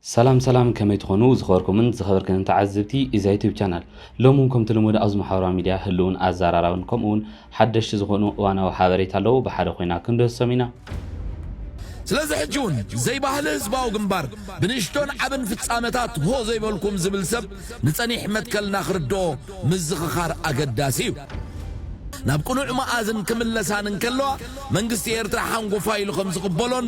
ሰላም ሰላም ከመይ ትኾኑ ዝኸበርኩምን ዝኸበርክንን ተዓዝብቲ ኢዛ ዩቱብ ቻናል ሎሚ ውን ከምቲ ልሙድ ኣብዚ ማሕበራዊ ሚድያ ህልውን ኣዛራራብን ከምኡ ውን ሓደሽቲ ዝኾኑ እዋናዊ ሓበሬታ ኣለው ብሓደ ኮይና ክንድህሶም ኢና ስለዚ ሕጂ ውን ዘይባህሊ ህዝባዊ ግንባር ብንእሽቶን ዓብን ፍጻመታት ሆ ዘይበልኩም ዝብል ሰብ ንጸኒሕ መትከልና ክርድኦ ምዝኽኻር ኣገዳሲ እዩ። ናብ ቅኑዕ መኣዝን ክምለሳን እንከለዋ መንግስቲ ኤርትራ ሓንጎፋይ ኢሉ ከም ዝቕበሎን፣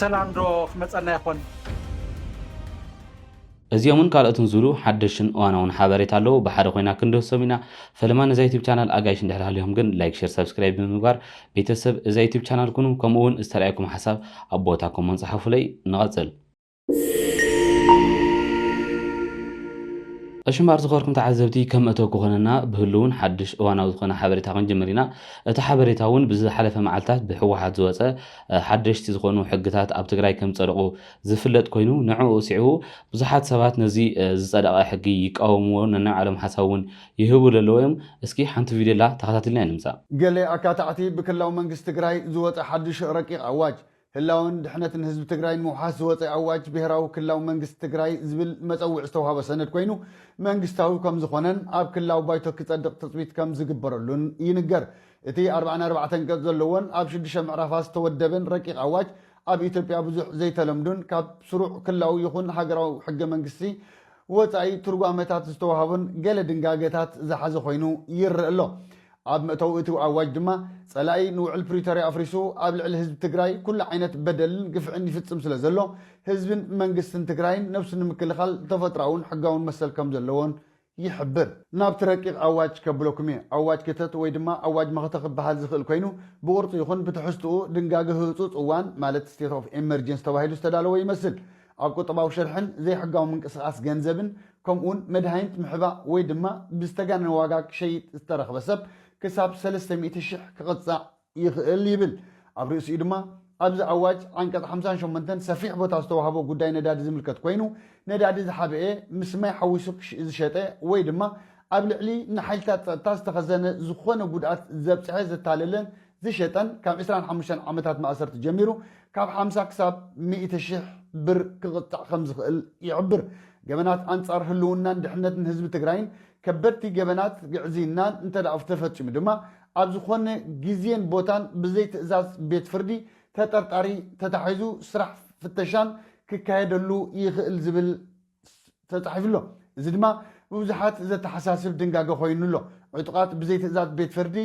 ሰላም ዶ ክመጸና ይኾን? እዚኦምን ካልኦትን ዝብሉ ሓደሽን እዋናውን ሓበሬታ ኣለዉ ብሓደ ኮይና ክንድህሶም ኢና ፈለማ ነዛ ዩቱብ ቻናል ኣጋይሽ እንድሕር ሃልዮም ግን ላይክ ሼር ሰብስክራይብ ብምግባር ቤተሰብ እዛ ዩቱብ ቻናል ኩኑ ከምኡ እውን ዝተረኣየኩም ሓሳብ ኣብ ቦታ ኮሞን ፀሓፉለይ ንቐፅል ዕሽምባር ዝኸርኩም ተዓዘብቲ ከም መእተዊ ክኾነና ብህሉውን ሓድሽ እዋናዊ ዝኾነ ሓበሬታ ክንጅምር ኢና። እቲ ሓበሬታ እውን ብዝሓለፈ መዓልታት ብሕወሓት ዝወፀ ሓደሽቲ ዝኾኑ ሕግታት ኣብ ትግራይ ከም ዝፀደቑ ዝፍለጥ ኮይኑ ንዕኡ ስዒቡ ብዙሓት ሰባት ነዚ ዝፀደቐ ሕጊ ይቃወምዎ ነናይ ባዕሎም ሓሳብ እውን ይህቡ ለለዉ እዮም። እስኪ ሓንቲ ቪድዮ ኣላ ተኸታቲልና ኢና ንምፃእ። ገለ ኣካታዕቲ ብክልላዊ መንግስቲ ትግራይ ዝወፀ ሓዱሽ ረቂቕ ኣዋጅ ህላወን ድሕነትን ህዝቢ ትግራይ ንምውሓስ ዝወፀ ኣዋጅ ብሄራዊ ክልላዊ መንግስቲ ትግራይ ዝብል መፀውዒ ዝተውሃቦ ሰነድ ኮይኑ መንግስታዊ ከምዝኾነን ኣብ ክልላዊ ባይቶ ክፀድቕ ትፅቢት ከምዝግበረሉን ይንገር። እቲ ኣርባዕን ኣርባዕተን ገፅ ዘለዎን ኣብ ሽዱሽተ ምዕራፋት ዝተወደበን ረቂቕ ኣዋጅ ኣብ ኢትዮጵያ ብዙሕ ዘይተለምዱን ካብ ስሩዕ ክልላዊ ይኹን ሃገራዊ ሕገ መንግስቲ ወፃኢ ትርጓመታት ዝተውሃቦን ገለ ድንጋገታት ዝሓዘ ኮይኑ ይረእ ኣሎ። ኣብ መእተዊ እቲ ኣዋጅ ድማ ፀላኢ ንውዕል ፕሪቶርያ ኣፍሪሱ ኣብ ልዕሊ ህዝቢ ትግራይ ኩሉ ዓይነት በደልን ግፍዕን ይፍፅም ስለዘሎ ህዝብን መንግስትን ትግራይን ነብሱ ንምክልኻል ተፈጥሮኣውን ሕጋውን መሰል ከምዘለዎን ይሕብር። ናብቲ ረቂቕ ኣዋጅ ከብለኩም እየ። ኣዋጅ ክተት ወይ ድማ ኣዋጅ መኸተ ክበሃል ዝኽእል ኮይኑ ብቕርፁ ይኹን ብትሕዝትኡ ድንጋገ ህፁፅ እዋን ማለት State of Emergency ተባሂሉ ዝተዳለወ ይመስል። ኣብ ቁጠባዊ ሽርሕን ዘይሕጋዊ ምንቅስቓስ ገንዘብን ከምኡ'ውን መድሃኒት ምሕባእ ወይ ድማ ብዝተጋነነ ዋጋ ክሸይጥ ዝተረኽበ ሰብ ክሳብ ሰለስተ ሚእቲ ሽሕ ክቕጻዕ ይኽእል ይብል። ኣብ ርእሲኡ ድማ ኣብዚ ኣዋጅ ዓንቀጽ ሓምሳን ሸሞንተን ሰፊሕ ቦታ ዝተዋህቦ ጉዳይ ነዳዲ ዝምልከት ኮይኑ ነዳዲ ዝሓበኤ ምስ ማይ ሓዊሱ ዝሸጠ ወይ ድማ ኣብ ልዕሊ ንሓይልታት ጸጥታ ዝተኸዘነ ዝኾነ ጉድኣት ዘብጽሐ፣ ዘታለለን ዝሸጠን ካብ ዕስራን ሓሙሽተን ዓመታት ማእሰርቲ ጀሚሩ ካብ ሓምሳ ክሳብ ሚእቲ ሽሕ ብር ክቕጻዕ ከምዝኽእል ይሕብር። ገበናት ኣንጻር ህልውናን ድሕነትን ህዝቢ ትግራይን ከበድቲ ገበናት ግዕዝይናን እንተድኣ ተፈጺሙ ድማ ኣብ ዝኾነ ግዜን ቦታን ብዘይ ትእዛዝ ቤት ፍርዲ ተጠርጣሪ ተታሒዙ ስራሕ ፍተሻን ክካየደሉ ይኽእል ዝብል ተጻሒፉ ኣሎ። እዚ ድማ ንብዙሓት ዘተሓሳስብ ድንጋገ ኮይኑ ኣሎ። ዕጡቓት ብዘይ ትእዛዝ ቤት ፍርዲ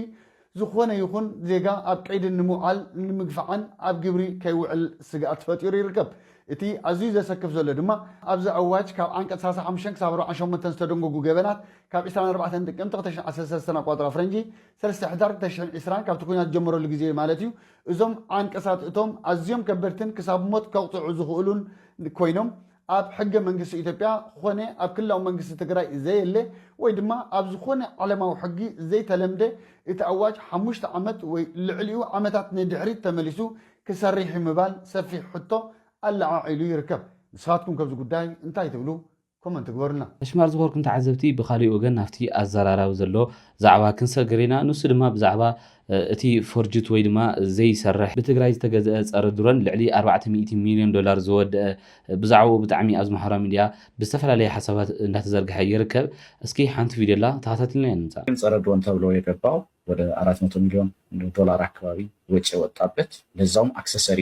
ዝኾነ ይኹን ዜጋ ኣብ ቀይዲ ንምውዓል ንምግፋዕን ኣብ ግብሪ ከይውዕል ስግኣት ፈጢሩ ይርከብ። እቲ ኣዝዩ ዘሰክፍ ዘሎ ድማ ኣብዚ ኣዋጅ ካብ ዓንቀጽ ሰላሳ ሓሙሽተ ክሳብ ኣርብዓን ሸሞንተን ዝተደንገጉ ገበናት ካብ ዕስራን ኣርባዕተን ጥቅምቲ ክልተ ሽሕን ዓሰርተ ሰለስተን ኣቋጽራ ፈረንጂ ሰለስተ ሕዳር ክልተ ሽሕን ዕስራን ካብቲ ኲናት ዝጀመረሉ ግዜ ማለት እዩ እዞም ዓንቀሳት እቶም ኣዝዮም ከበድትን ክሳብ ሞት ከቕጽዑ ዝኽእሉን ኮይኖም ኣብ ሕገ መንግስቲ ኢትዮጵያ ኾነ ኣብ ክልላዊ መንግስቲ ትግራይ ዘየለ ወይ ድማ ኣብ ዝኾነ ዓለማዊ ሕጊ ዘይተለምደ እቲ ኣዋጅ ሓሙሽተ ዓመት ወይ ልዕሊኡ ዓመታት ንድሕሪት ተመሊሱ ክሰርሕ እዩ ምባል ሰፊሕ ሕቶ ኣለዓዒሉ ይርከብ። ንስኻትኩም ከብዚ ጉዳይ እንታይ ትብሉ? ኮመንት ግበሩልና። ሕሽማር ዝኾርኩም ተዓዘብቲ ብኻሊእ ወገን ናብቲ ኣዘራራቢ ዘሎ ዛዕባ ክንሰግር ኢና። ንሱ ድማ ብዛዕባ እቲ ፎርጅት ወይ ድማ ዘይሰርሕ ብትግራይ ዝተገዘኣ ፀረ ድሮን ልዕሊ ኣርባዕተ ሚእቲ ሚልዮን ዶላር ዝወደኣ ብዛዕብኡ ብጣዕሚ ኣብዚ ማሕበራዊ ሚድያ ብዝተፈላለየ ሓሳባት እንዳተዘርገሐ ይርከብ እስኪ ሓንቲ ቪድዮ ኣላ ተኸታቲልና ንምፃእ። ፀረ ድሮን ተብሎ የገባው ወደ ኣራት መቶ ሚልዮን ዶላር ኣካባቢ ወጪ የወጣበት ለዛውም ኣክሰሰሪ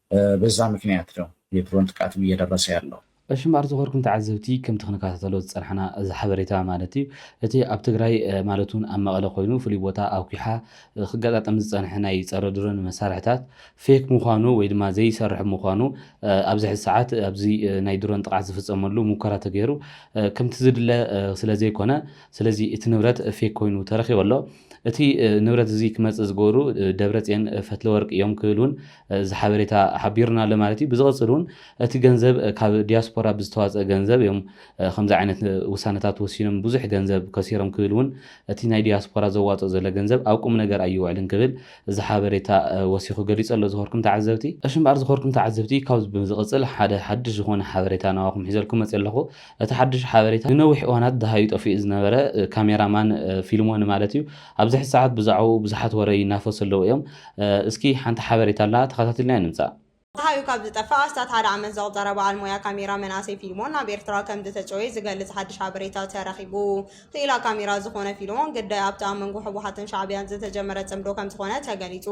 በዛ ምክንያት ነው የድሮን ጥቃትም እየደረሰ ያለው። እሺ እምበኣር ዝኾርኩም ተዓዘብቲ ከምቲ ክንከታተሎ ዝጸናሕና እዚ ሓበሬታ ማለት እዩ እቲ ኣብ ትግራይ ማለት እውን ኣብ መቐለ ኮይኑ ፍሉይ ቦታ ኣውኪሓ ክገጣጠም ዝጸንሐ ናይ ጸረ ድሮን መሳርሕታት ፌክ ምዃኑ ወይ ድማ ዘይሰርሕ ምዃኑ ኣብዚ ሕዚ ሰዓት ኣብዚ ናይ ድሮን ጥቕዓት ዝፍጸመሉ ሙከራ ተገይሩ ከምቲ ዝድለ ስለ ዘይኮነ ስለዚ እቲ ንብረት ፌክ ኮይኑ ተረኺቡ ኣሎ እቲ ንብረት እዚ ክመጽእ ዝገበሩ ደብረጽዮን ፈትለወርቅ እዮም ክብል እውን እዚ ሓበሬታ ሓቢሩና ኣሎ ማለት እዩ። ብዝቕፅል እውን እቲ ገንዘብ ካብ ዲያስፖራ ብዝተዋፀ ገንዘብ እዮም ከምዚ ዓይነት ውሳነታት ወሲኖም ብዙሕ ገንዘብ ከሲሮም ክብል እውን እቲ ናይ ዲያስፖራ ዘዋፅኦ ዘሎ ገንዘብ ኣብ ቁም ነገር ኣይውዕልን ክብል እዚ ሓበሬታ ወሲኹ ገሊፁ ኣሎ ዝኾርኩም ተዓዘብቲ። እሺ እምበኣር ዝኾርኩም ተዓዘብቲ ካብዚ ብምዝቕፅል ሓደ ሓዱሽ ዝኾነ ሓበሬታ ናባኹም ሒዘልኩም መፂእ ኣለኹ። እቲ ሓዱሽ ሓበሬታ ንነዊሕ እዋናት ደሃዩ ጠፊኡ ዝነበረ ካሜራ ማን ፊልሞን ማለት እዩ ኣብዚ ሕዚ ሰዓት ብዛዕብኡ ብዙሓት ወረ ይናፈሱ ኣለዉ እዮም። እስኪ ሓንቲ ሓበሬታ ኣላ ተኸታቲልናያ ንምጻእ። ጸሓዩ ካብ ዝጠፍእ ኣስታት ሓደ ዓመት ዘቑጸረ በዓል ሞያ ካሜራ መንኣሰይ ፊልሞን ናብ ኤርትራ ከምዝተጨወየ ዝገልጽ ሓድሽ ሓበሬታ ተረኺቡ። ክኢላ ካሜራ ዝኾነ ፊልሞን፣ ግዳይ ኣብቲ ኣብ መንጎ ህወሓትን ሻዕብያን ዝተጀመረ ጽምዶ ከምዝኾነ ተገሊጹ።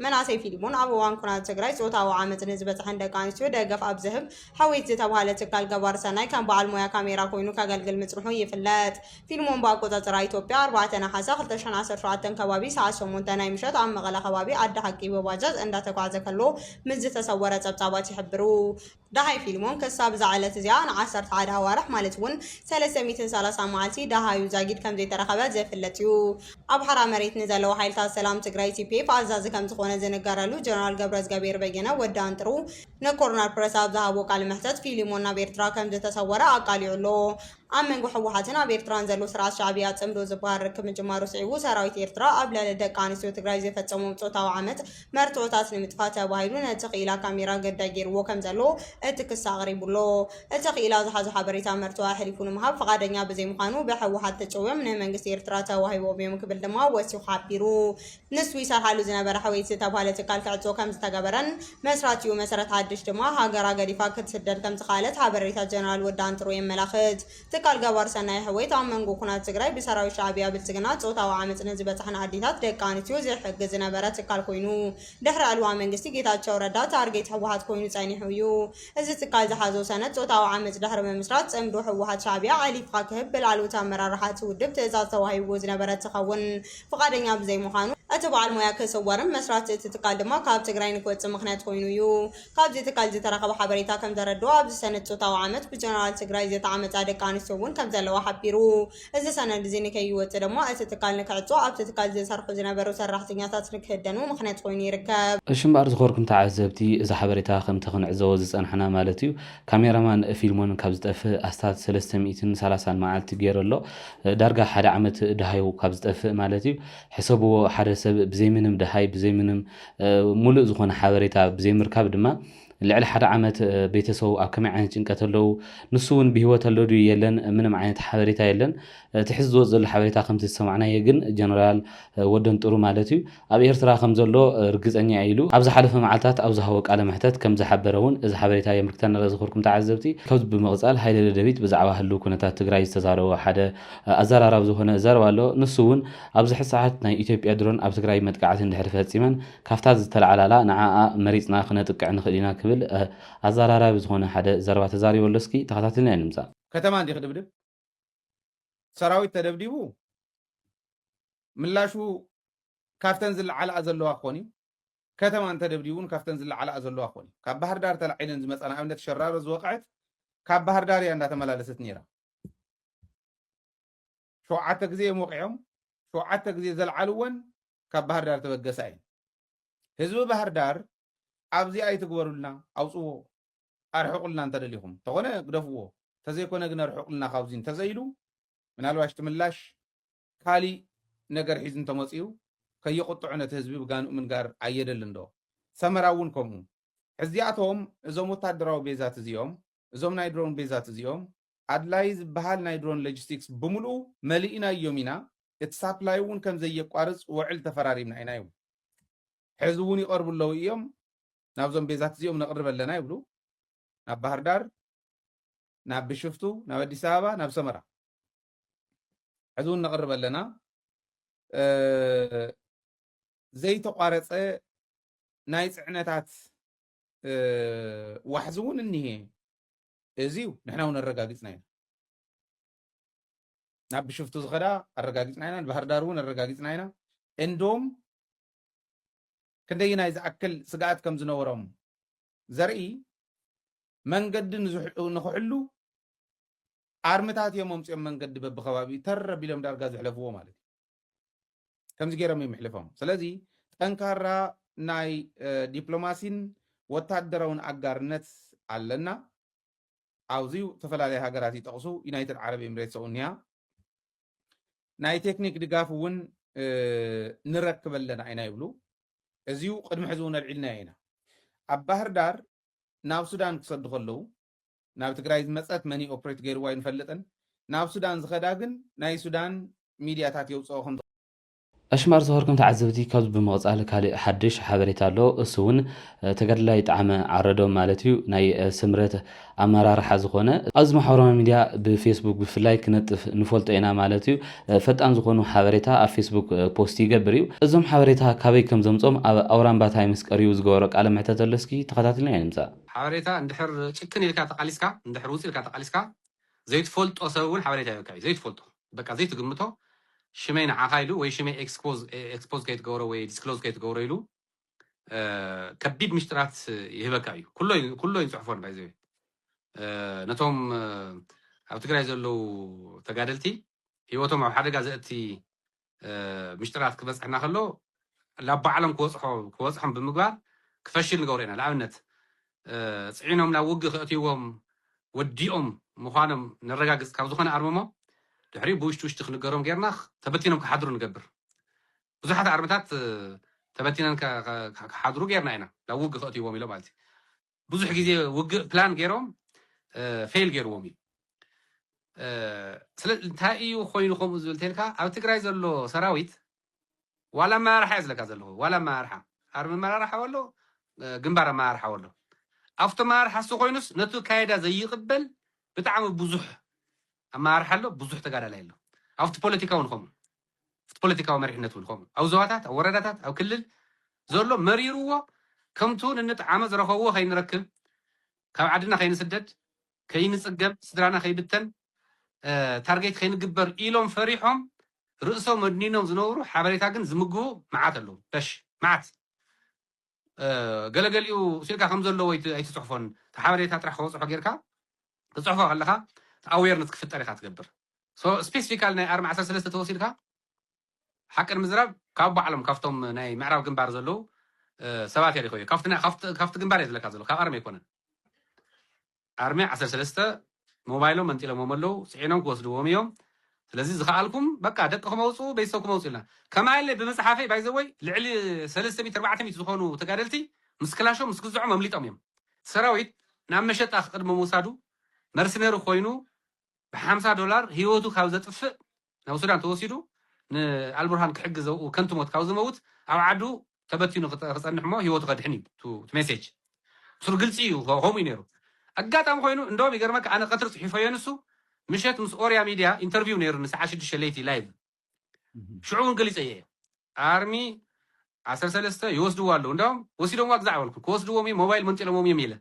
መንኣሰይ ፊልሞን ኣብ እዋን ኩናት ትግራይ ጾታዊ ዓመጽ ንዝበጽሐን ደቂ ኣንስትዮ ደገፍ ኣብ ዝህብ ሕዊት ዝተብሃለ ትካል ገባሪ ሰናይ ከም በዓል ሞያ ካሜራ ኮይኑ ከገልግል ምጽንሑ ይፍለጥ። ፊልሞን ብኣቆጻጽራ ኢትዮጵያ ኣርባዕተ ነሓሰ ክልተ ሽሕን ዓሰርተ ሸውዓተን ከባቢ ሰዓት ሸሞንተ ናይ ምሸት ኣብ መቐለ ከባቢ ዓዲ ሓቂ ብባጃጅ እንዳተጓዕዘ ከሎ ምስ ዝተሰወረ ጸብጻባት ይሕብሩ። ደሃይ ፊልሞን ክሳብ እዛ ዕለት እዚኣ ን ዓሰርተ ሓደ ኣዋርሕ ማለት ውን ሰለስተ ሚእትን ሰላሳን መዓልቲ ደሃዩ ዛጊድ ከምዘይተረኸበ ዝፍለጥ ዩ። ኣብ ሓራ መሬት ንዘለዉ ሓይልታት ሰላም ትግራይ፣ TPF፣ ኣዛዚ ከምዝኾነ ዝንገረሉ ጀነራል ገብረዝገቤሄር በየነ፣ ወዲ ኣንጥሩ፣ ንኮርነር ፕረስ ኣብ ዝሃቦ ቃለ መሕተት ፊልሞን ናብ ኤርትራ ከምዝተሰወረ ኣቃሊዑ ኣሎ። ኣብ መንጎ ህወሓትን ኣብ ኤርትራን ዘሎ ስርዓት ሻዕብያ ፅምዶ ዝበሃል ርክብ ምጅማሩ ስዒቡ ሰራዊት ኤርትራ ኣብ ልዕሊ ደቂ ኣንስትዮ ትግራይ ዝፈፀሞም ፆታዊ ዓመፅ መርትዖታት ንምጥፋእ ተባሂሉ ነቲ ክኢላ ካሜራ ግዳይ ገይርዎ ከምዘሎ እቲ ክሲ ኣቕሪቡ ኣሎ። እቲ ክኢላ ዝሓዞ ሓበሬታ መርትዖ ኣሕሊፉ ንምሃብ ፍቓደኛ ብዘይምዃኑ ብህወሓት ተጨውዮም ንመንግስቲ ኤርትራ ተዋሂቦም እዮም ክብል ድማ ወሲኹ ሓቢሩ። ንሱ ይሰርሓሉ ዝነበረ ሕውየት ዝተብሃለ ትካል ክዕጾ ከምዝተገበረን፣ መስራቲኡ መሰረት ሓድሽ ድማ ሃገራ ገዲፋ ክትስደድ ከምዝኸኣለት ሓበሬታ ጀነራል ወዲ ኣንጥርኡ የመላኽት። ትካል ገባሪ ሰናይ ሕውየት ኣብ መንጎ ኩናት ትግራይ ብሰራዊት ሻዕብያ ብልጽግና ጾታዊ ዓመጽ ንዝበጽሐን ኣዴታት ደቂ ኣንስትዮ ዝሕግዝ ዝነበረ ትካል ኮይኑ ድሕሪ ዕልዋ መንግስቲ ጌታቸው ረዳ ታርጌት ሕወሓት ኮይኑ ጸኒሑ እዩ። እዚ ትካል ዝሓዞ ሰነድ ጾታዊ ዓመጽ ድሕሪ ምምስራት ጽምዶ ሕወሓት ሻዕብያ ዓሊፍኻ ክህብ ብላዕለዎት ኣመራርሓ እቲ ውድብ ትእዛዝ ተዋሂብዎ ዝነበረ እንትኸውን ፍቓደኛ ብዘይምዃኑ፣ እቲ በዓል ሞያ ክስወርን መስራቲ እቲ ትካል ድማ ካብ ትግራይ ንክወጽእ ምኽንያት ኮይኑ እዩ። ካብዚ ትካል ዝተረኸበ ሓበሬታ ከምዘረድኦ፣ ኣብዚ ሰነ ጾታዊ ዓመጽ ብጀነራል ትግራይ ዝተዓመጻ ደቂ ኣንስትዮ እውን ከምዘለዋ ሓቢሩ። እዚ ሰነድ እዚ ንከይወጽእ ድማ እቲ ትካል ንክዕጾ፣ ኣብቲ ትካል ዝሰርሑ ዝነበሩ ሰራሕተኛታት ንክህደኑ ምኽንያት ኮይኑ ይርከብ። እሺ እምበኣር ዝኮርኩም ተዓዘብቲ እዚ ሓበሬታ ከምቲ ክንዕዘቦ ዝጸናሕና ማለት እዩ ካሜራ ማን ፊልሞን ካብ ዝጠፍእ ኣስታት ሰለስተ ሚእትን ሰላሳን መዓልቲ ጌሩ ኣሎ ዳርጋ ሓደ ዓመት ደሃዩ ካብ ዝጠፍእ ማለት እዩ። ሕሰብዎ ሓደ ሰብ ብዘይ ምንም ደሃይ ብዘይ ምንም ሙሉእ ዝኾነ ሓበሬታ ብዘይ ምርካብ ድማ ልዕሊ ሓደ ዓመት ቤተሰቡ ኣብ ከመይ ዓይነት ጭንቀት ኣለው ንሱ እውን ብሂወት ኣሎ ድዩ የለን ምንም ዓይነት ሓበሬታ የለን እቲ ሕዚ ዝወፅ ዘሎ ሓበሬታ ከምቲ ዝሰማዕናዬ ግን ጀነራል ወደንጥሩ ማለት እዩ ኣብ ኤርትራ ከም ዘሎ ርግጸኛ'የ ኢሉ ኣብ ዝሓለፈ መዓልታት ኣብ ዝሃቦ ቃለ መሕተት ከም ዝሓበረ'ውን እዚ ሓበሬታ የምልክተና ኣሎ ዝኸርኩም ተዓዘብቲ። ካብዚ ብምቕጻል ሃይለ ደደቢት ብዛዕባ ህሉው ኩነታት ትግራይ ዝተዛረቦ ሓደ ኣዘራራቢ ዝኾነ ዘረባ ኣሎ። ንሱ'ውን ኣብዚ ሕዚ ሰዓት ናይ ኢትዮጵያ ድሮን ኣብ ትግራይ መጥቃዕቲ እንድሕሪ ፈጺመን ካብታ ዝተላዕላላ ንዓኣ መሪጽና ክነጥቅዕ ንኽእል ኢና ክብል ኣዘራራቢ ዝኾነ ሓደ ዘረባ ተዛሪቡ ኣሎ እስኪ ተኸታቲልና ኢና ንምጻእ። ከተማ እንድዩ ክድብድብ ሰራዊት ተደብዲቡ ምላሹ ካብተን ዝለዓላኣ ዘለዋ ክኾን እዩ ከተማ እንተደብዲቡ እውን ካብተን ዝለዓላኣ ዘለዋ ክኾን እዩ ካብ ባህር ዳር ተላዒለን ዝመፃ ንኣብነት ሸራሮ ዝወቕዐት ካብ ባህር ዳር እያ እንዳተመላለሰት ነይራ ሸውዓተ ግዜ እዮም ወቂዖም ሸውዓተ ግዜ ዘልዓልወን ካብ ባህር ዳር ተበገሳ እየን ህዝቢ ባህር ዳር ኣብዚ ኣይትግበሩልና ኣውፅዎ ኣርሕቁልና እንተደሊኹም ተኾነ ግደፍዎ ተዘይኮነ ግን ኣርሕቁልና ካብዚ እንተዘይ ኢሉ ምናልባሽ እቲ ምላሽ ካሊእ ነገር ሒዙ እንተመፂኡ ከየቁጥዑ ነቲ ህዝቢ ብጋንኡ ምንጋር ኣየደልን ዶ ሰመራ እውን ከምኡ ሕዚኣቶም እዞም ወታደራዊ ቤዛት እዚኦም እዞም ናይ ድሮን ቤዛት እዚኦም ኣድላይ ዝበሃል ናይ ድሮን ሎጂስቲክስ ብምልኡ መሊእናዮም ኢና እቲ ሳፕላይ እውን ከምዘየቋርፅ ወዕል ተፈራሪምና ኢና ይብሉ ሕዚ እውን ይቀርቡ ኣለው እዮም ናብዞም ቤዛት እዚኦም ነቕርብ ኣለና ይብሉ። ናብ ባህርዳር፣ ናብ ብሽፍቱ፣ ናብ ኣዲስ ኣበባ፣ ናብ ሰመራ ሕዚ እውን ነቕርብ ኣለና። ዘይተቋረፀ ናይ ፅዕነታት ዋሕዚ እውን እኒሄ እዚ እዩ ንሕና እውን ኣረጋጊፅና ኢና ናብ ብሽፍቱ ዝኸዳ ኣረጋጊፅና ኢና ንባህርዳር እውን ኣረጋጊፅና ኢና እንዶም ክንደይናይ ዝኣክል ስግኣት ከም ዝነበሮም ዘርኢ መንገዲ ንኽሕሉ ኣርምታት እዮም ኣምፂኦም መንገዲ በብከባቢኡ ተር ኣቢሎም ዳርጋ ዘሕለፍዎ ማለት እዩ ከምዚ ገይሮም እዮም ሕልፎም ስለዚ ጠንካራ ናይ ዲፕሎማሲን ወታደራውን ኣጋርነት ኣለና ኣብዚ ዝተፈላለዩ ሃገራት ይጠቕሱ ዩናይትድ ዓረብ ኤምሬትስ እውን እያ ናይ ቴክኒክ ድጋፍ እውን ንረክብ ኣለና ኢና ይብሉ። እዚው ቅድሚ ሕዚ እውን ኣልዒልናዮ ኢና። ኣብ ባህርዳር ናብ ሱዳን ክሰዱ ከለዉ ናብ ትግራይ ዝመፀት መን እዩ ኦፕሬት ገይርዎ ኣይንፈልጥን። ናብ ሱዳን ዝኸዳ ግን ናይ ሱዳን ሚድያታት የውፅኦ ከም ኣሽማር ዝኸርኩም ተዓዘብቲ ካብዚ ብምቕጻል ካልእ ሓድሽ ሓበሬታ ኣሎ እሱ ውን ተጋድላይ ጠዓመ ዓረዶም ማለት እዩ ናይ ስምረት ኣመራርሓ ዝኾነ ኣብዚ ማሕበራዊ ሚድያ ብፌስቡክ ብፍላይ ክነጥፍ ንፈልጦ ኢና ማለት እዩ ፈጣን ዝኾኑ ሓበሬታ ኣብ ፌስቡክ ፖስት ይገብር እዩ እዞም ሓበሬታ ካበይ ከም ዘምጾም ኣብ ኣውራምባ ታይምስ ቀሪቡ ዝገበሮ ቃለ መሕተት ኣሎ እስኪ ተኸታትልናዮ ንምጻእ። ሓበሬታ እንድሕር ጭክን ኢልካ ተቓሊስካ እንድሕር ውጽእ ኢልካ ተቓሊስካ ዘይትፈልጦ ሰብ ውን ሓበሬታ የብቅዕ እዩ ዘይትፈልጦ በቃ ዘይትግምቶ ሽመይ ንዓካ ኢሉ ወይ ሽመይ ኤክስፖዝ ከይትገብሮ ወይ ዲስክሎዝ ከይትገብሮ ኢሉ ከቢድ ምሽጥራት ይህበካ እዩ ኩሎ እዩ ንፅሕፎ ባይዘ ነቶም ኣብ ትግራይ ዘለዉ ተጋደልቲ ሂወቶም ኣብ ሓደጋ ዘእቲ ምሽጥራት ክበፅሕና ከሎ ላብ ባዕሎም ክበጽሖ ክበጽሖም ብምግባር ክፈሽል ንገብሮ ኢና ልኣብነት ጽዒኖም ላብ ውግእ ከእትይዎም ወዲኦም ምዃኖም ነረጋግጽ ካብ ዝኾነ ኣርምሞ ድሕሪኡ ብውሽጢ ውሽጢ ክንገሮም ጌርና ተበቲኖም ክሓድሩ ንገብር ብዙሓት ኣርምታት ተበቲነን ክሓድሩ ጌርና ኢና ላብ ውግእ ከእትይዎም ኢሎም ማለት እዩ ብዙሕ ግዜ ውግእ ፕላን ገይሮም ፌል ገይርዎም እዩ ስለ እንታይ እዩ ኮይኑ ከምኡ ዝብል ተልካ ኣብ ትግራይ ዘሎ ሰራዊት ዋላ ኣመራርሓ እዩ ዝለካ ዘለዎ ዋላ ኣመራርሓ ኣርሚ ኣመራርሓ ኣሎ ግንባር ኣመራርሓ ኣሎ ኣብቲ ኣመራርሓ እሱ ኮይኑስ ነቲ ካይዳ ዘይቕበል ብጣዕሚ ብዙሕ ኣመራርሓ ኣሎ ብዙሕ ተጋዳላይ ኣሎ ኣብቲ ፖለቲካ እውን ከምኡ ኣብቲ ፖለቲካዊ መሪሕነት እውን ከምኡ ኣብ ዞባታት ኣብ ወረዳታት ኣብ ክልል ዘሎ መሪሩዎ ከምቱ ንንጥዓመ ዝረኸብዎ ከይንረክብ ካብ ዓድና ከይንስደድ ከይንፅገም ስድራና ከይብተን ታርጌት ከይንግበር ኢሎም ፈሪሖም ርእሶም ኣድኒኖም ዝነብሩ ሓበሬታ ግን ዝምግቡ መዓት ኣለዉ በሽ መዓት ገለገሊኡ ስእልካ ከም ዘለዎ ኣይትፅሕፎን እቲ ሓበሬታ ጥራሕ ከበፅሖ ጌርካ ክትፅሕፎ ከለካ እቲ ኣዌርነት ክፍጠር ኢካ ትገብር ስፔሲፊካል ናይ ኣርሚ ዓሰርተ ሰለስተ ተወሲድካ ሓቂ ንምዝራብ ካብ ባዕሎም ካብቶም ናይ ምዕራብ ግንባር ዘለው ሰባት እያ ሪኸዮ ካብቲ ግንባር እየ ዝለካ ዘሎ ካብ ኣርሚ ኣይኮነን ኣርሚ ዓሰርተ ሰለስተ ሞባይሎም መንጢሎሞም ኣለው ጽዒኖም ክወስድዎም ኢዮም ስለዚ ዝከኣልኩም በቃ ደቅኹም ኣውጽኡ ቤተሰብኩም ኣውጽኡ ኢልና ከማይለ ብምጽሓፈይ ባይ ዘ ወይ ልዕሊ ሰለስተ ሚእቲ ኣርባዕተ ሚእቲ ዝኾኑ ተጋደልቲ ምስ ክላሾም ምስ ግዝዖም ኣምሊጦም ኢዮም ሰራዊት ናብ መሸጣ ክቅድሚ ምውሳዱ መርስነሪ ኮይኑ ብሓምሳ ዶላር ሂወቱ ካብ ዘጥፍእ ናብ ሱዳን ተወሲዱ ንኣልቡርሃን ክሕግዝ ኣብኡ ከንቱ ሞት ካብ ዝመውት ኣብ ዓዱ ተበቲኑ ክጸንሕ እሞ ሂወቱ ከድሕን እዩ እቱ ሜሴጅ ምስሩ ግልጺ እዩ ከምኡ እዩ ነይሩ ኣጋጣሚ ኮይኑ እንደውም ይገርመካ ኣነ ቀትሪ ጽሒፈዮ ንሱ ምሸት ምስ ኦርያ ሚድያ ኢንተርቪው ነይሩኒ ሰዓት ሽዱሽተ ለይቲ ላይቭ ሽዑ እውን ገሊጸዮ እየ ኣርሚ ዓሰርተ ሰለስተ ይወስድዎ ኣለዉ እንዳውም ወሲዶምዋ ግዛዕ በልኩ ክወስድዎም እዩ ሞባይል መንጢሎሞም እዮም ኢለ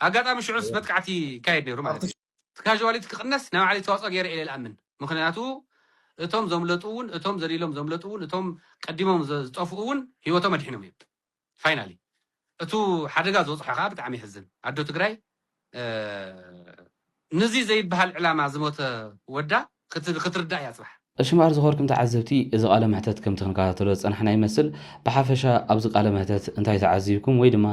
ኣጋጣሚ ሽዑስ መጥቃዕቲ ይካየድ ነይሩ ማለት እዩ እቲ ካዥዋሊቲ ክቕነስ ናይ ባዕለይ ተዋፅኦ ገይረ እየ ኢለ ልኣምን። ምኽንያቱ እቶም ዘምለጡ እውን እቶም ዘሊሎም ዘምለጡ እውን እቶም ቀዲሞም ዝጠፍኡ እውን ህይወቶም ኣድሒኖም እዮም ፋይናሊ እቱ ሓደጋ ዝበፅሖ ከዓ ብጣዕሚ የሕዝን ኣዶ ትግራይ ንዙይ ዘይበሃል ዕላማ ዝሞተ ወዳ ክትርዳእ እያ ጽባሕ። ቀሺ መኣር ዝኸበርኩም ተዓዘብቲ እዚ ቃለ መሕተት ከምቲ ክንከታተሎ ዝጸናሕና ይመስል ብሓፈሻ ኣብዚ ቃለ መሕተት እንታይ ተዓዚብኩም ወይ ድማ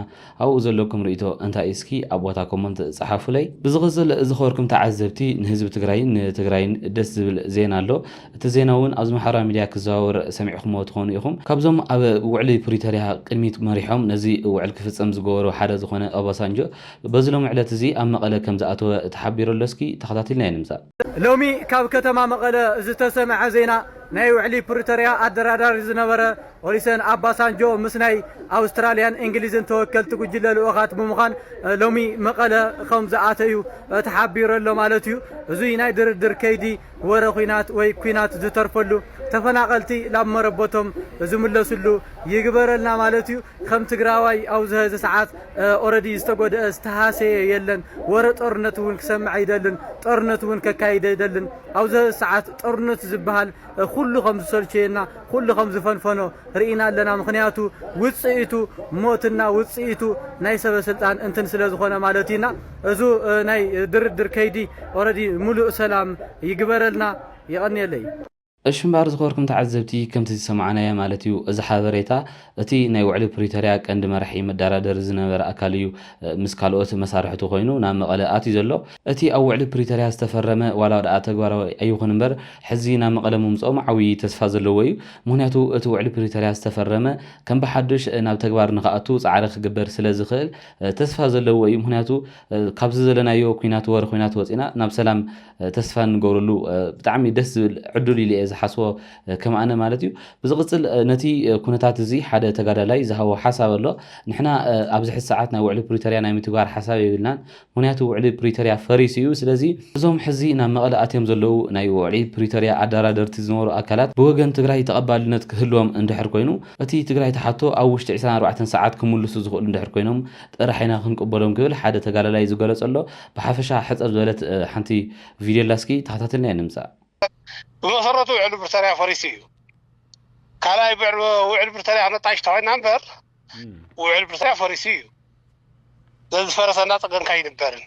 ኣብኡ ዘለኩም ርእይቶ እንታይ እዩ እስኪ ኣብ ቦታ ኮሞንት ጸሓፉለይ ብዝቕጽል ዝኸበርኩም ተዓዘብቲ ንህዝቢ ትግራይን ንትግራይን ደስ ዝብል ዜና ኣሎ እቲ ዜና ውን ኣብዚ ማሕበራዊ ሚድያ ክዘዋወር ሰሚዕኩምዎ ትኾኑ ኢኹም ካብዞም ኣብ ውዕሊ ፕሪቶርያ ቅድሚት መሪሖም ነዚ ውዕል ክፍጸም ዝገበሩ ሓደ ዝኾነ ኦባሳንጆ በዚ ሎሚ ዕለት እዚ ኣብ መቐለ ከምዝኣተወ ተሓቢሩ ኣሎ እስኪ ተኸታቲልናዮ ንምጻእ። ሎሚ ካብ ከተማ መቐለ ዝተሰምዐ ዜና ናይ ውዕሊ ፕሪቶርያ ኣደራዳሪ ዝነበረ ኦሊሰን ኣባሳንጆ ምስ ናይ ኣውስትራልያን እንግሊዝን ተወከልቲ ጉጅለ ልኡኻት ብምዃን ሎሚ መቐለ ከም ዝኣተዩ ተሓቢሩ ኣሎ ማለት እዩ። እዙይ ናይ ድርድር ከይዲ ወረ ኹናት ወይ ኩናት ዝተርፈሉ ተፈናቐልቲ ላብ መረበቶም ዝምለስሉ ይግበረልና ማለት እዩ። ከም ትግራዋይ ኣብዚ ሀዚ ሰዓት ኦረዲ ዝተጎደኣ ዝተሃሰየ የለን ወረ ጦርነት እውን ክሰምዕ ኣይደልን ጦርነት እውን ከካይድ ኣይደልን ኣብዚ ሰዓት ጦርነት ዝበሃል ኩሉ ከም ዝሰልቸየና ኩሉ ከም ዝፈንፈኖ ርኢና ኣለና ምክንያቱ ውፅኢቱ ሞትና ውፅኢቱ ናይ ሰበ ስልጣን እንትን ስለ ዝኾነ ማለት እዩ እና እዙ ናይ ድርድር ከይዲ ኦረዲ ሙሉእ ሰላም ይግበረልና የቐንየለይ እሽምባር ዝኸበርኩም ተዓዘብቲ ከምቲ ዝሰማዕናዮ ማለት እዩ እዚ ሓበሬታ እቲ ናይ ውዕሊ ፕሪቶርያ ቀንዲ መራሒ መዳራደሪ ዝነበረ ኣካል እዩ ምስ ካልኦት መሳርሕቱ ኮይኑ ናብ መቐለ ኣትዩ ዘሎ እቲ ኣብ ውዕሊ ፕሪቶርያ ዝተፈረመ ዋላ ድኣ ተግባራዊ ኣይኹን እምበር ሕዚ ናብ መቐለ ምምፅኦም ዓብዪ ተስፋ ዘለዎ እዩ ምኽንያቱ እቲ ውዕሊ ፕሪቶርያ ዝተፈረመ ከም ብሓዱሽ ናብ ተግባር ንኽኣቱ ፃዕሪ ክግበር ስለ ዝኽእል ተስፋ ዘለዎ እዩ ምኽንያቱ ካብዚ ዘለናዮ ኲናት ወረ ዂናት ወፂእና ናብ ሰላም ተስፋ እንገብረሉ ብጣዕሚ ደስ ዝብል ዕዱል ኢለ እየ ዝሓስቦ ከም ኣነ ማለት እዩ ብዝቕፅል ነቲ ኩነታት እዚ ሓደ ተጋዳላይ ዝሃቦ ሓሳብ ኣሎ ንሕና ኣብዚ ሕዚ ሰዓት ናይ ውዕሊ ፕሪቶሪያ ናይ ምትግባር ሓሳብ የብልናን ምክንያቱ ውዕሊ ፕሪቶሪያ ፈሪሱ እዩ ስለዚ እዞም ሕዚ ናብ መቐለ ኣትዮም ዘለዉ ናይ ውዕሊ ፕሪቶሪያ ኣደራደርቲ ዝነበሩ ኣካላት ብወገን ትግራይ ተቐባልነት ክህልዎም እንድሕር ኮይኑ እቲ ትግራይ ትሓቶ ኣብ ውሽጢ ዕስራን ኣርባዕተን ሰዓት ክምልሱ ዝኽእሉ እንድሕር ኮይኖም ጥራሕ ኢና ክንቅበሎም ክብል ሓደ ተጋዳላይ ዝገለፆ ኣሎ ብሓፈሻ ሕጽር ዝበለት ሓንቲ ቪድዮ ኣላ እስኪ ተኸታቲልና ኢና ንምጻእ። ብመሰረቱ ውዕል ብርተርያ ፈሪሱ እዩ። ካልኣይ ውዕል ብርተርያ ነጣይሽ ተኮይና እምበር ውዕል ብርተርያ ፈሪሱ እዩ። ነዚ ዝፈረሰ እናፀገንካ ኣይንበርን።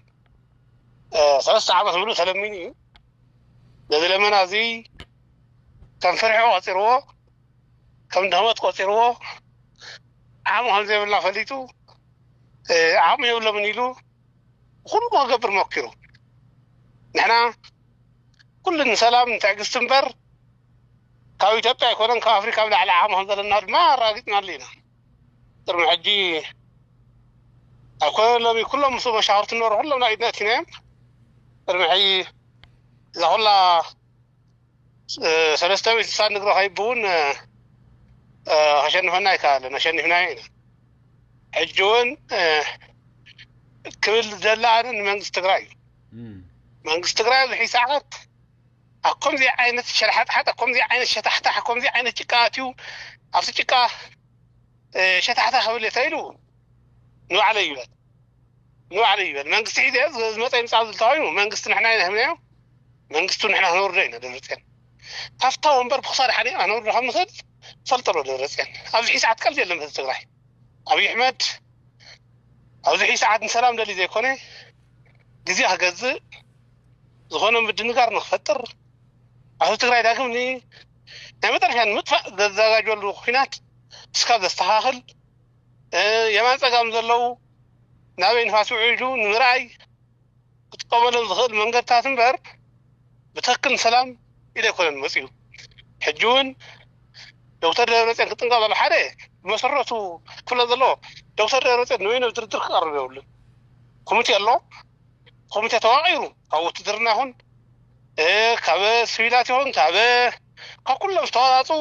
ሰለስተ ዓመት ምሉእ ተለሚኑ እዩ። ነዚ ለመና እዚ ከም ፍርሒ ቆፂርዎ ከም ድህመት ቆፂርዎ ዓቕሚ ከም ዘይብልና ፈሊጡ ዓቕሚ የብሎምን ኢሉ ኩሉ ክገብር ሞኪሩ ንሕና ኩሉ ንሰላም ንትዕግስቲ እምበር ካብ ኢትዮጵያ ኣይኮነን ካብ ኣፍሪካ ኣብ ላዕሊ ዓቅሚ ከምዘለና ድማ ኣራጊፅናሉ ኢና ቅድሚ ሕጂ ኣይኮነን ሎሚ ኩሎም ምስ መሻክርቲ ንበሩ ኩሎም ናብ ኢድና እቲናዮም ቅድሚ ሕጂ እዛ ኩላ ሰለስተ ወይ ስሳ ንግሮ ከይቡ እውን ከሸንፈና ኣይከኣለን ኣሸኒፍናዮ ኢና ሕጂ እውን ክብል ዝደሊ ኣነ ንመንግስቲ ትግራይ እዩ መንግስቲ ትግራይ ኣብዚ ሕጂ ሰዓት ኣብ ከምዚ ዓይነት ሸልሓጥሓጥ ኣብ ከምዚ ዓይነት ሸታሕታሕ ኣብ ከምዚ ዓይነት ጭቃ ኣትዩ ኣብቲ ጭቃ ሸታሕታ ክብል እየ ተኢሉ ንባዕለይ ይበል ንባዕለይ ይበል መንግስቲ ሒዘ ዝመፀ ይምፃእ ዝብል ተባሂሉ መንግስቲ ንሕና ኢና ሂብናዮ መንግስቱ ንሕና ክነውርዶ ኢና ደብረፅዮን ካብታ ወንበር ብክሳድ ሓኒቕና ክነውርዶ ከም ንኽእል ትፈልጦ ዶ ደብረፅዮን ኣብዚ ሕዚ ሰዓት ቀልዲ የለን ህዝቢ ትግራይ ኣብዪ ኣሕመድ ኣብዚ ሕዚ ሰዓት ንሰላም ደልዩ ዘይኮነ ግዜ ክገዝእ ዝኾነ ምድንጋር ንክፈጥር ኣብ ህዝቢ ትግራይ ዳግም ን ናይ መጠረሻ ንምጥፋእ ዘዘጋጀሉ ኩናት እስካብ ዘስተኻኽል የማን ፀጋም ዘለዉ ናበይ ንፋስ ውዒሉ ንምርኣይ ክጥቀመሎም ዝኽእል መንገድታት እምበር ብትኽክል ንሰላም ኢሉ ኣይኮነን መፂኡ። ሕጂ እውን ዶክተር ደብረፅዮን ክጥንቀቕ ዘለዎ ሓደ ብመሰረቱ ክፍለጥ ዘለዎ ዶክተር ደብረፅዮን ንበይኑ ኣብ ድርድር ክቐርብ የብሉን። ኮሚቴ ኣሎ፣ ኮሚቴ ተዋቒሩ ካብ ውትድርና ይኹን ካብ ስቪላት ይኹን ካብ ካብ ኩሎም ዝተዋፃፅኡ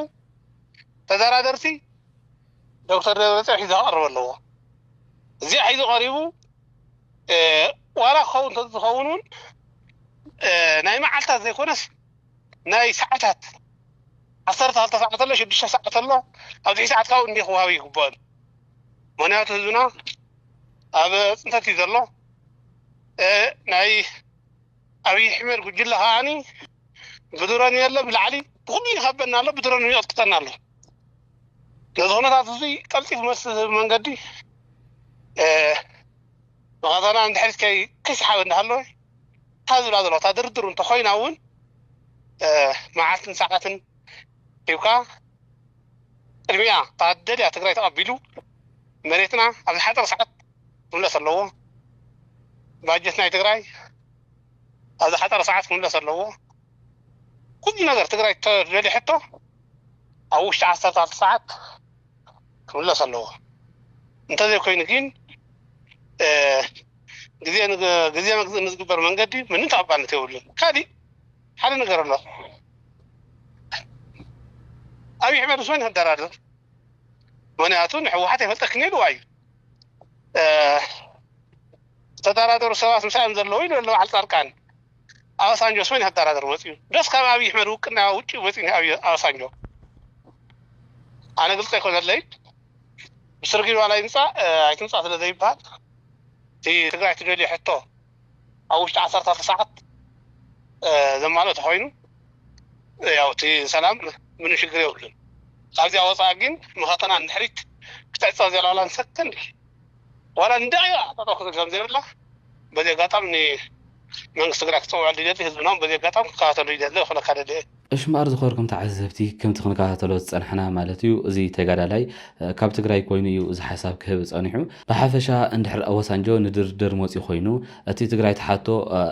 ተደራደርቲ ዶክተር ደብረፅዮን ሒዙ ክቐርብ ኣለዎ እዚኣ ሒዙ ቀሪቡ ዋላ ክኸውን ተዝኸውን እውን ናይ መዓልታት ዘይኮነስ ናይ ሰዓታት ዓሰርተ ክልተ ሰዓት ኣሎ ሽዱሽተ ሰዓት ኣሎ ኣብ ትሕቲ ሰዓት ካብኡ እንዲ ክወሃብ ይግባእ ምክንያቱ ህዝብና ኣብ ፅንተት እዩ ዘሎ ናይ ኣብይ ኣሕመድ ጉጅለ ከዓኒ ብድሮን የለ ብላዕሊ ብኩሉ ይኸበና ኣሎ ብድሮን እውን ይቕጥቅጠና ኣሎ ነዚ ኩነታት እዚ ቀልጢፉ መልሲ ዝህብ መንገዲ መቐዘና ንድሕሪት ከይ ክስሓብ እንዳሃለወ እታ ዝብላ ዘለዋ እታ ድርድሩ እንተኮይና እውን መዓልትን ሰዓትን ሂብካ ቅድሚያ እታ ደልያ ትግራይ ተቐቢሉ መሬትና ኣብ ዝሓፀረ ሰዓት ክምለስ ኣለዎ ባጀት ናይ ትግራይ ኣብ ዝሓፀረ ሰዓት ክምለስ ኣለዎ ኩሉ ነገር ትግራይ ትደልዮ ሕቶ ኣብ ውሽጢ ዓሰርተ ክልተ ሰዓት ክምለስ ኣለዎ እንተዘይኮይኑ ግን ግዜ ግዜ መግዝእ ንዝግበር መንገዲ ምንም ተቐባልነት የብሉን ካሊእ ሓደ ነገር ኣሎ ኣብይ ኣሕመድ ምስ መን ይደራደር ምክንያቱ ንሕወሓት ኣይፈልጠክን ኢልዋ እዩ ዝተጠራጠሩ ሰባት ምሳኦም ዘለዉ ኢሉ ኣሎ በዓል ፃድቃን። ኣባሳንጆስ መን ይኸዳራደር መፅዩ ዶስ ካብ ኣብይ ኣሕመድ ውቅና ውጭ መፅዩ ኣባሳንጆ ኣነ ግልፀ ኣይኮነለይ ብስርግቢ ዋላ ይምፃእ ኣይትምፃእ ስለዘይበሃል እቲ ትግራይ ትደልዮ ሕቶ ኣብ ውሽጢ ዓሰርተ ኣርባዕተ ሰዓት ዘማልኦ ተኾይኑ ያው እቲ ሰላም ምንም ሽግር የብሉን። ካብዚኣ ወፃእ ግን መኸተና ንድሕሪት ክትዕፀ ዘላ ዋላ ንሰከንድ ዋላ ንደቂቃ ጠጠው ክትብል ከምዘይብላ በዚ ኣጋጣሚ ንመንግስቲ ትግራይ ክፅውዐሉ ይደሊ ህዝብና እውን በዚ ኣጋጣሚ ክከታተሉ ይደሊ ክብለካ ደሊ እየ። እሽ እምበኣር ዝኸበርኩም ተዓዘብቲ ከምቲ ክንከታተሎ ዝጸናሕና ማለት እዩ እዚ ተጋዳላይ ካብ ትግራይ ኮይኑ እዩ እዚ ሓሳብ ክህብ ጸኒሑ ብሓፈሻ እንድሕር ኦባሳንጆ ንድርድር መጽዩ ኮይኑ እቲ ትግራይ ትሓቶ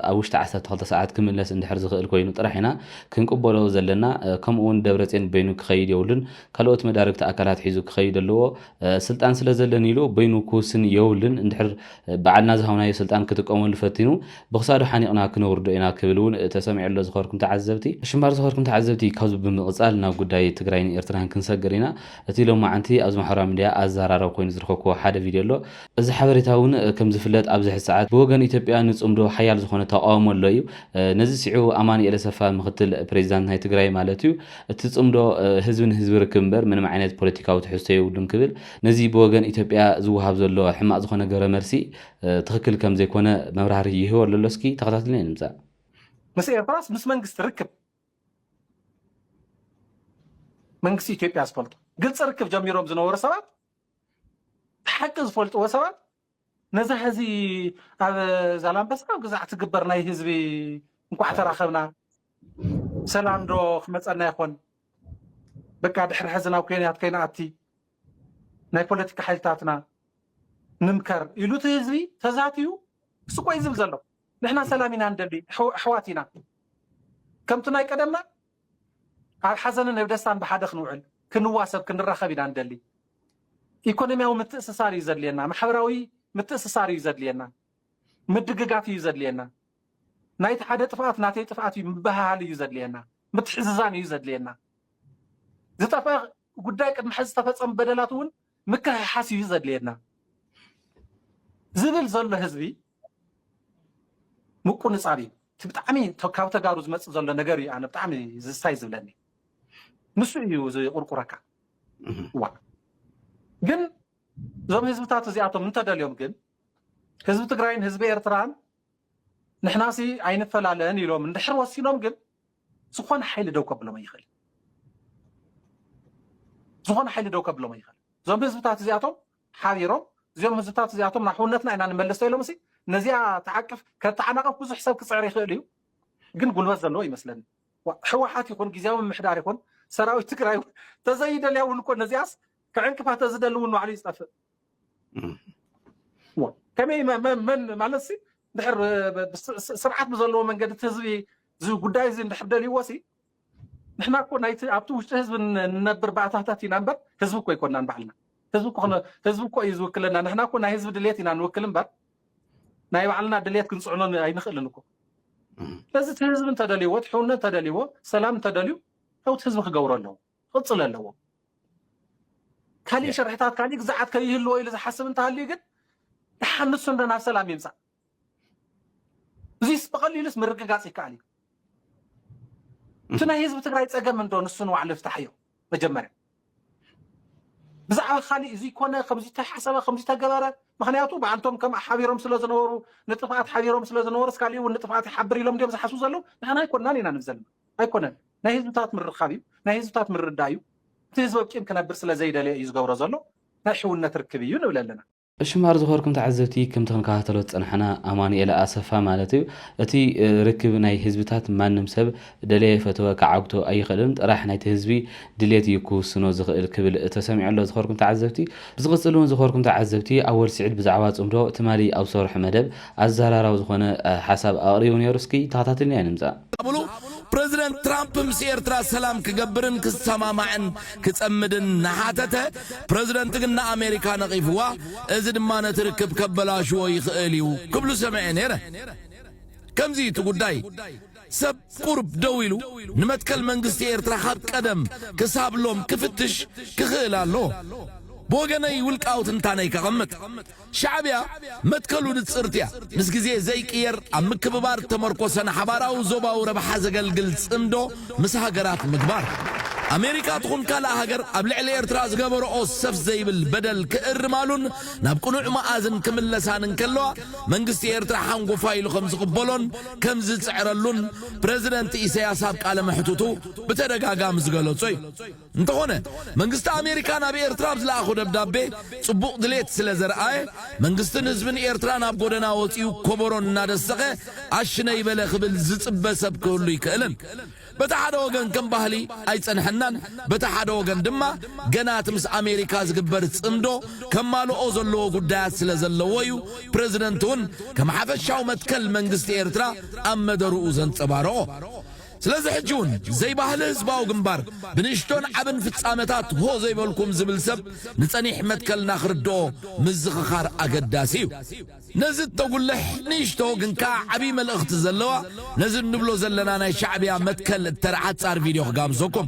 ኣብ ውሽጢ ዓሰርተ ክልተ ሰዓት ክምለስ እንድሕር ዝኽእል ኮይኑ ጥራሕ ኢና ክንቅበሎ ዘለና ከምኡ ውን ደብረጼን በይኑ ክኸይድ የብሉን ካልኦት መዳርግቲ ኣካላት ሒዙ ክኸይድ ኣለዎ ስልጣን ስለ ዘለኒ ኢሉ በይኑ ክውስን የብሉን እንድሕር ባዕልና ዝሃብናዮ ስልጣን ክጥቀመሉ ፈቲኑ ብክሳዱ ሓኒቕና ክነውርዶ ኢና ክብል እውን ተሰሚዑ'ሎ ዝኸበርኩም ተዓዘብቲ። ሽምባር ዝኸበርኩም ተዓዘብቲ ካብዚ ብምቕጻል ናብ ጉዳይ ትግራይን ኤርትራን ክንሰግር ኢና። እቲ ሎማዓንቲ ኣብዚ ማሕበራዊ ሚድያ ኣዘራራቢ ኮይኑ ዝረኸብኩዎ ሓደ ቪድዮ ኣሎ። እዚ ሓበሬታ እውን ከም ዝፍለጥ ኣብዚ ሕዚ ሰዓት ብወገን ኢትዮጵያ ንጽምዶ ሓያል ዝኾነ ተቓውሞ ኣሎ እዩ። ነዚ ስዒቡ ኣማኒኤል ኣሰፋ ምኽትል ፕሬዚዳንት ናይ ትግራይ ማለት እዩ እቲ ጽምዶ ህዝቢ ንህዝቢ ርክብ እምበር ምንም ዓይነት ፖለቲካዊ ትሕዝቶ የብሉን ክብል ነዚ ብወገን ኢትዮጵያ ዝወሃብ ዘሎ ሕማቕ ዝኾነ ግብረ መልሲ ትኽክል ከም ዘይኮነ መብራህርሂ ይህቦ ኣሎ እስኪ ተኸታትልና ንምጻእ። ምስ ኤርትራስ ምስ መንግስቲ ርክብ መንግስቲ ኢትዮጵያ ዝፈልጦ ግልፂ ርክብ ጀሚሮም ዝነበሩ ሰባት ሓቂ ዝፈልጥዎ ሰባት ነዛ ህዚ ኣብ ዛላምበሳ ኣብ ግዛዕ ትግበር ናይ ህዝቢ እንኳዕ ተራኸብና ሰላም ዶ ክመፀና ይኾን በቃ ድሕሪ ሕዚ ናብ ኮንያት ከይንኣቲ ናይ ፖለቲካ ሓይልታትና ንምከር ኢሉ እቲ ህዝቢ ተዛትዩ ስቆ እዩ ዝብል ዘሎ። ንሕና ሰላም ኢና ንደሊ፣ ኣሕ- ኣሕዋት ኢና። ከምቲ ናይ ቀደምና ኣብ ሓዘንን ኣብ ደስታን ብሓደ ክንውዕል፣ ክንዋሰብ፣ ክንራኸብ ኢና ንደሊ። ኢኮኖሚያዊ ምትእስሳር እዩ ዘድልየና፣ ማሕበራዊ ምትእስሳር እዩ ዘድልየና፣ ምድግጋፍ እዩ ዘድልየና፣ ናይቲ ሓደ ጥፍኣት ናተይ ጥፍኣት እዩ ምብህሃል እዩ ዘድልየና፣ ምትሕዝዛን እዩ ዘድልየና። ዝጠፍአ ጉዳይ ቅድሚ ሕዚ ዝተፈጸሙ በደላት እውን ምክሕሓስ እዩ ዘድልየና ዝብል ዘሎ ህዝቢ ምቁንጻብ እዩ እቲ ብጣዕሚ ካብ ተጋሩ ዝመጽእ ዘሎ ነገር እዩ ኣነ ብጣዕሚ ዝስታይ ዝብለኒ ንሱ እዩ ዝቁርቁረካ ዋ ግን እዞም ህዝብታት እዚኣቶም እንተደልዮም ግን ህዝቢ ትግራይን ህዝቢ ኤርትራን ንሕናሲ ኣይንፈላለን ኢሎም እንድሕር ወሲኖም ግን ዝኾነ ሓይሊ ደው ከብሎም ኣይኽእልን። ዝኾነ ሓይሊ ደው ከብሎም ኣይኽእልን። እዞም ህዝብታት እዚኣቶም ሓቢሮም እዚኦም ህዝብታት እዚኣቶም ናብ ሕውነትና ኢና ንመለስ ተኢሎም ሲ ነዚኣ ተዓቅፍ ከተዓናቕፍ ብዙሕ ሰብ ክፅዕር ይኽእል እዩ፣ ግን ጉልበት ዘለዎ ይመስለኒ ሕወሓት ይኹን ግዜያዊ ምምሕዳር ይኹን ሰራዊት ትግራይ እውን ተዘይደልያ እውን እኮ ነዚኣስ ክዕንቅፋ ተዝደሊ እውን ባዕሉ እዩ ዝጠፍእ ከመይ መ- መ- መን ማለት ሲ ድሕር ስርዓት ብዘለዎ መንገዲ እቲ ህዝቢ እዚ ጉዳይ እዚ እንድሕር ደልይዎሲ ንሕና እኮ ናይቲ ኣብቲ ውሽጢ ህዝቢ ንነብር ባእታታት ኢና እምበር ህዝቢ እኮ ኣይኮናን ባዕልና ህዝቢ እኮ እዩ ዝውክለና ንሕና እኮ ናይ ህዝቢ ድሌት ኢና ንውክል እምበር ናይ ባዕልና ድሌት ክንፅዕኖ ኣይንኽእልን እኮ ስለዚ እቲ ህዝቢ እንተደልይዎ እቲ ሕውነት እንተደልይዎ ሰላም እንተደልዩ ለውቲ ህዝቢ ክገብሮ ኣለዎ ክቕፅል ኣለዎ ካሊእ ሸርሕታት ካሊእ ግዛዓት ከይህልዎ ኢሉ ዝሓስብ እንተሃልዩ ግን ተሓንሱ እንዶ ናብ ሰላም ይምፃእ እዚስ ብቐሊሉስ ምርግጋጽ ይከኣል እዩ። እቲ ናይ ህዝቢ ትግራይ ጸገም እንዶ ንሱ ንባዕሉ ይፍታሕዮ መጀመርያ ብዛዕባ ካሊእ እዚ ኮነ ከምዚ ተሓሰበ ከምዚ ተገበረ ምክንያቱ ብኣንቶም ከም ሓቢሮም ስለ ዝነበሩ ንጥፍኣት ሓቢሮም ስለ ዝነበሩ ስካሊእ እውን ንጥፍኣት ይሓብር ኢሎም ድዮም ዝሓስቡ ዘለዉ ንሕና ኣይኮናን ኢና ንብል ዘለና ኣይኮነን ናይ ህዝብታት ምርኻብ እዩ ናይ ህዝብታት ምርዳእ እዩ እቲ ህዝቢ ኣብቂም ክነብር ስለ ዘይደለየ እዩ ዝገብሮ ዘሎ ናይ ሕውነት ርክብ እዩ ንብል ኣለና እሺ ማር ዝኸበርኩም ተዓዘብቲ ከምቲ ክንከታተሎ ዝጸናሕና ኣማኑኤል ኣሰፋ ማለት እዩ እቲ ርክብ ናይ ህዝብታት ማንም ሰብ ደለየ ፈተወ ክዓግቶ ኣይኽእልን ጥራሕ ናይቲ ህዝቢ ድሌት እዩ ክውስኖ ዝኽእል ክብል ተሰሚዑ ኣሎ ዝኸበርኩም ተዓዘብቲ ብዝቕጽል እውን ዝኸበርኩም ተዓዘብቲ ኣወል ስዒድ ብዛዕባ ጽምዶ ትማሊ ኣብ ዝሰርሖ መደብ ኣዘራራቢ ዝኾነ ሓሳብ ኣቕሪቡ ነይሩ እስኪ ተኸታቲልና ንምፃእ። ኣብሉ ፕረዚደንት ትራምፕ ምስ ኤርትራ ሰላም ክገብርን ክሰማማዕን ክጸምድን እናሓተተ፣ ፕረዚደንት ግን ንኣሜሪካ ነቒፍዋ፣ እዚ ድማ ነቲ ርክብ ከበላሽዎ ይኽእል እዩ ክብሉ ሰሚዐ ነይረ። ከምዚ እዩ እቲ ጉዳይ። ሰብ ቁሩብ ደው ኢሉ ንመትከል መንግስቲ ኤርትራ ካብ ቀደም ክሳብ ሎም ክፍትሽ ክኽእል ኣለዎ። ብወገነይ ውልቃዊ ትንታነይ ከቐምጥ። ሻዕብያ መትከሉ ንጽርቲ እያ። ምስ ግዜ ዘይቅየር ኣብ ምክብባር እተመርኮሰ ንሓባራዊ ዞባዊ ረብሓ ዘገልግል ጽምዶ ምስ ሃገራት ምግባር። ኣሜሪካ ትኹን ካልእ ሃገር ኣብ ልዕሊ ኤርትራ ዝገበረኦ ሰፍ ዘይብል በደል ክእርማሉን ናብ ቅኑዕ መኣዝን ክምለሳን እንከለዋ መንግስቲ ኤርትራ ሓንጎፋይ ኢሉ ከም ዝቕበሎን ከም ዝጽዕረሉን ፕረዚደንት ኢሰያስ ኣብ ቃለ መሕትቱ ብተደጋጋሚ ዝገለጾ እዩ። እንተኾነ መንግስቲ ኣሜሪካ ናብ ኤርትራ ኣብ ዝለኣኾ ደብዳቤ ጽቡቕ ድሌት ስለ ዘርኣየ፣ መንግስትን ህዝብን ኤርትራ ናብ ጎደና ወጺኡ ኮቦሮ እናደሰኸ ኣሽነይ በለ ክብል ዝጽበ ሰብ ክህሉ ኣይክእልን። በቲ ሓደ ወገን ከም ባህሊ ኣይጸንሐናን፣ በቲ ሓደ ወገን ድማ ገና እቲ ምስ ኣሜሪካ ዝግበር ጽምዶ ከማልኦ ዘለዎ ጉዳያት ስለ ዘለዎ እዩ ፕረዚደንት'ውን ከም ሓፈሻዊ መትከል መንግስቲ ኤርትራ ኣብ መደርኡ ዘንጸባረቖ። ስለዚ ሕጂ ውን ዘይባህሊ ህዝባዊ ግንባር ብንእሽቶን ዓብን ፍጻመታት ሆ ዘይበልኩም ዝብል ሰብ ንጸኒሕ መትከልና ክርድኦ ምዝኽኻር ኣገዳሲ እዩ። ነዚ እተጉልሕ ንእሽቶ ግን ከኣ ዓቢ መልእኽቲ ዘለዋ ነዚ እንብሎ ዘለና ናይ ሻዕብያ መትከል እተርዓጽ ጻር ቪድዮ ክጋብዘኩም።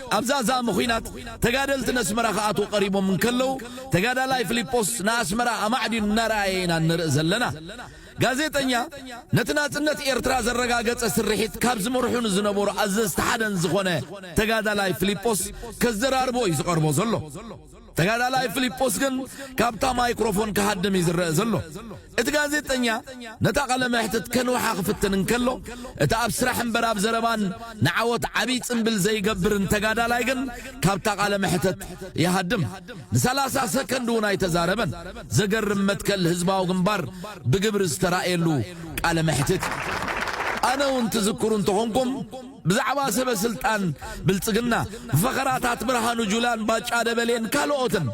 ኣብ ዛዛሚ ኹናት ተጋደልቲ ነስመራ ክኣትዉ ቀሪቦም እንከለዉ ተጋዳላይ ፍሊጶስ ንኣስመራ ኣማዕዲኑ እናረኣየ ኢና እንርኢ ዘለና። ጋዜጠኛ ነቲ ናጽነት ኤርትራ ዘረጋገጸ ስርሒት ካብ ዝመርሑ ንዝነበሩ ኣዘዝቲ ሓደን ዝኾነ ተጋዳላይ ፍሊጶስ ከዘራርቦ እዩ ዝቐርቦ ዘሎ። ተጋዳላይ ፍሊጶስ ግን ካብታ ማይክሮፎን ክሃድም እዩ ዝረኣ ዘሎ። እቲ ጋዜጠኛ ነታ ቃለ መሕትት ከንውሓ ክፍትን እንከሎ፣ እቲ ኣብ ስራሕ እምበር ኣብ ዘረባን ንዓወት ዓብይ ጽንብል ዘይገብርን ተጋዳላይ ግን ካብታ ቃለ መሕተት ይሃድም። ንሰላሳ ሰከንድ እውን ኣይተዛረበን። ዘገርም መትከል ህዝባዊ ግንባር ብግብሪ ዝተራእየሉ ቃለ መሕትት እዩ። ኣነ እውን ትዝክሩ እንተኾንኩም፣ ብዛዕባ ሰበ ስልጣን ብልጽግና፣ ብፈኸራታት ብርሃኑ ጁላን ባጫ ደበሌን ካልኦትን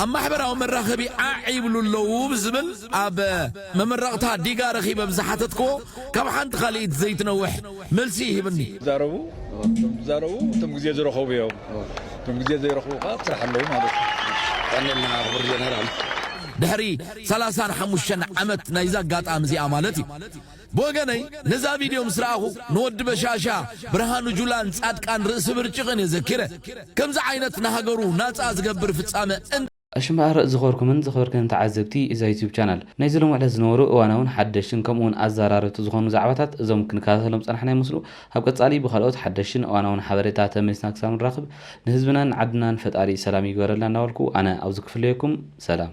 ኣብ ማሕበራዊ መራኸቢ ዓዕ ይብሉ ኣለዉ ብዝብል ኣብ መመረቕታ ዲጋ ረኺበ ብዝሓተትክዎ ካብ ሓንቲ ካልኢት ዘይትነውሕ መልሲ ይህብኒ። ዝዛረቡ እቶም ዝዛረቡ እቶም ግዜ ዝረኸቡ እዮም። እቶም ግዜ ዘይረኽቡ ከኣ ኣብ ስራሕ ኣለዉ ማለት እዩ። የቀንየልና ክቡር ጀነራል። ድሕሪ ሰላሳን ሓሙሽተን ዓመት ናይዚ ኣጋጣሚ እዚኣ ማለት እዩ ብወገነይ ነዛ ቪድዮ ምስ ረኣኹ ንወዲ በሻሻ፣ ብርሃኑ ጁላን ጻድቃን ርእሲ ብርጭቕን እየ ዘኪረ። ከምዚ ዓይነት ንሃገሩ ናጻ ዝገብር ፍጻመ እንተ። እሺ እምበኣር ዝኸበርኩምን ዝኸበርክንን ተዓዘብቲ እዛ ዩቱብ ቻናል፣ ናይዚ ሎሚ ዕለት ዝነበሩ እዋናውን ሓደሽትን ከምኡ ውን ኣዛራረብቲ ዝኾኑ ዛዕባታት እዞም ክንከታተሎም ዝጸናሕና ይመስሉ። ኣብ ቀጻሊ ብካልኦት ሓደሽትን እዋናውን ሓበሬታ ተመሊስና ክሳብ ንራኽብ ንህዝብናን ንዓድናን ፈጣሪ ሰላም ይግበረልና እንዳበልኩ ኣነ ኣብዚ ክፍለየኩም ሰላም።